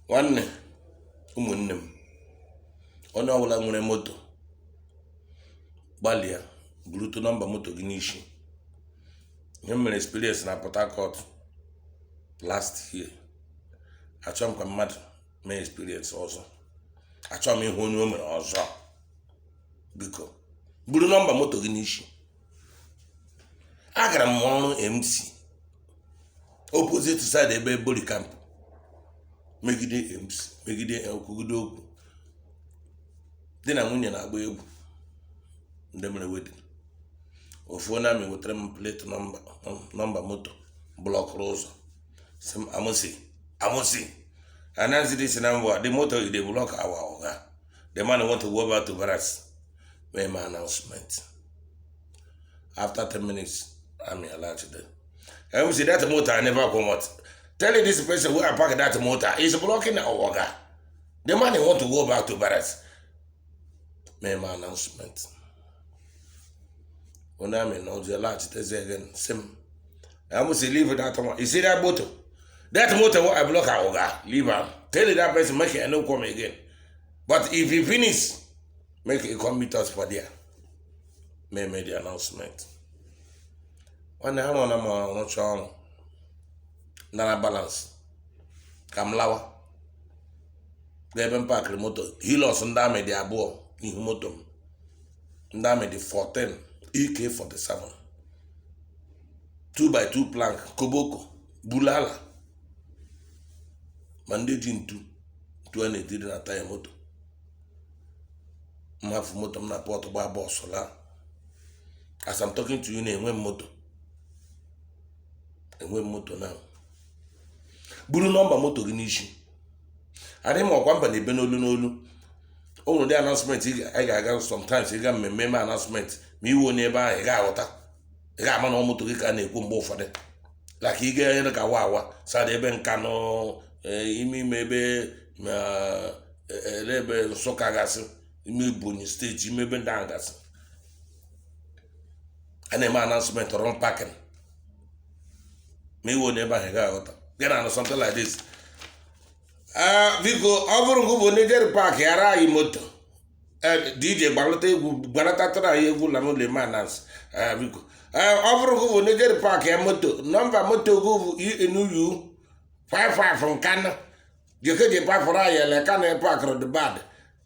nwanne ụmụnne m onye ọbụla nwere moto gbalịa burutu nọmba moto gị n'isi ihe m mere experience na port harcourt last year achọ m ka mmadụ mee experience ọzọ achọ m ịhụ onye o mere ọzọ biko buru nọmba moto gị n'isi agara m ọrụ mc opposite side ebe bori camp megide mc megide kwugide okwu di na nwunye na-agba egwu ndị mere wedding ofu nwa army wetara m plate nọmba moto blọkụrụ ụzọ sị m mc mc announce this number the motor dey block our oga the man want to go back to barracks mee my announcement after 10 minutes I'm allowed to do and we see that motor I never come out tell you this person where I park that motor is blocking our waga the man want to go back to barracks mee my announcement onye amị na ọjọ laghachitezi again sị m I must leave that one. You see that motor? That motor what I block out, Oga, leave am. Tell that person make it no come again. But if he finish, make it come meet us for there. May make the announcement. When I want to know, Sean, Nana balance. Come lower. Ebe m pakịrị moto hilos ndị amị dị abụọ n'ihu moto m ndị amị dị 14 EK 47 2 by 2 plank koboko bulala ma ndị ji ntu ntu a na-etiri na taya moto m hafụ moto m na port gbaa bus laa as I'm talking to you now enwe m moto enwe m moto now buru nọmba moto gị n'isi adịghị m ọkwa mba na-ebe n'olu n'olu o nwere ụdị announcement ị ga-aga sometimes ị gaa mmemme e mee announcement ma ị wụ onye ebe ahụ ị ga-aghọta ị ga-ama na ọ moto gị ka a na-ekwu mgbe ụfọdụ like ị gaa area ka wawa side ebe nkanu eh, ime ime ebe eh, ele ebe nsụka gasị ime ebonyi steeti ime ebe ndị ahụ gasị a na-eme announcement wrong parking ma ị wụ onye ebe ahụ ị ga-aghọta ị ga na-anụ something like this Ee, biko ọ bụrụ gị bụ onye jere paakịara anyị moto Ee, DJ gbalata egwu gbalatatara anyị egwu ala n'ụlọ eme announce Ee, biko Ee, ọ bụrụ gị bụ onye jere paakịa moto nọmba moto gị bụ ENU 55 Nkanu jekeje pafụrụ anyị ele ka na paakịrị dị bad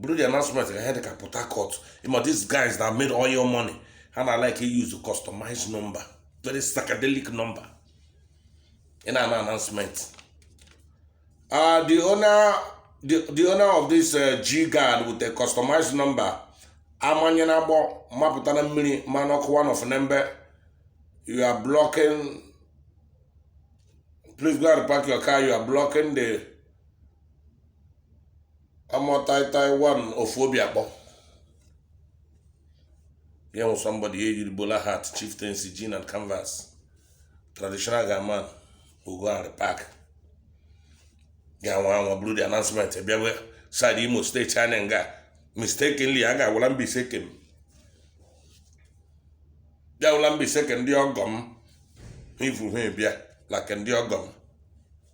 bụrụ the announcement ka ha dị ka port harcourt ị ma these guys that made oil money ha na like use customized number very psychedelic number ị na-anụ announcement uh, the owner the, the owner of this uh, g guard with a customized number amanyanabo mapụta na mmiri mmanụ ọkụ one of nembe you are blocking please go and park your car you are blocking the amụtaitai one of obio akpor ị ga-ahụ somebody ya yiri bowler hat chieftaincy jean and canvas traditional guyman ọ gaa repark ga-anwa anwa bụrụ the announcement bịawe side imo steeti anyị nga mistakenly a ga-agwala mbaise kem bịawụla mbaise ke ndị ọgọ m ivu ha bịa na ke ndị ọgọ m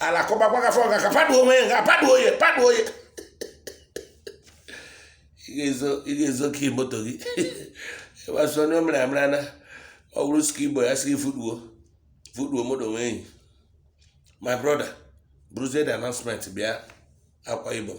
alakụba gwa gafe ọga ka paduo onwe ya nga paduo ya paduo ya ị ga-ezo- ị ga-ezo ka moto gị ịgbasa onye o mere amara na ọ bụrụ sika igbo ya sị gị fuduo fuduo moto nwee enyi my brother buruzie the announcement bịa akwa ibom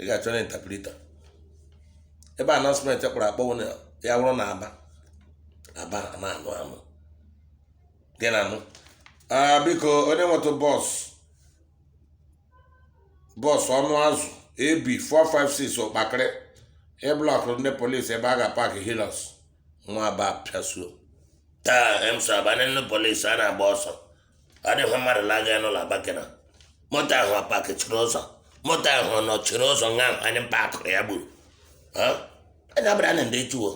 ị ga-achọ na interpreter ebe announcement kpọrọ akpọwo na ya wụrụ n'aba aba na-anụ anụ gị na-anụ biko onye nwetụ bọs bọs ọnụ azụ ab 456 ụkpakịrị ị blọkụ ndị polisi ebe a ga-paakị hilux nwa aba pịasuo taa emso abanye ndị polisi a na-agba ọsọ ọ dịghị mmadụ na-aga n'ụlọ abakena moto ahụ a pakịchiri ụzọ moto ahụ nọchiri ụzọ nga ahụ anyị pakụrụ ya gburu anyị abịara na ndị echuwo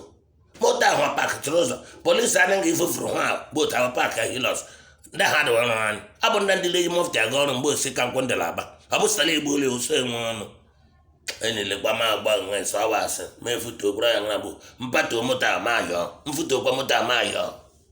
moto ahụ a pakịchiri ụzọ polisi anaghị ifufuru ha botu ahụ paakị hilux ndị ha dịwa ọrụ anyị ọ bụ ndị ndị la-eyi mọfti aga ọrụ mgbe osi ka nkwụ ndị l'aba ọ bụ sala igbo ụlọ ụsọ enwe ọnụ enyelekwa m agba nwe nsọ awa asị ma efutuo bụrụ ya nwa bụ mpatuo moto a ma yọọ mfutuokwa moto a ma yọọ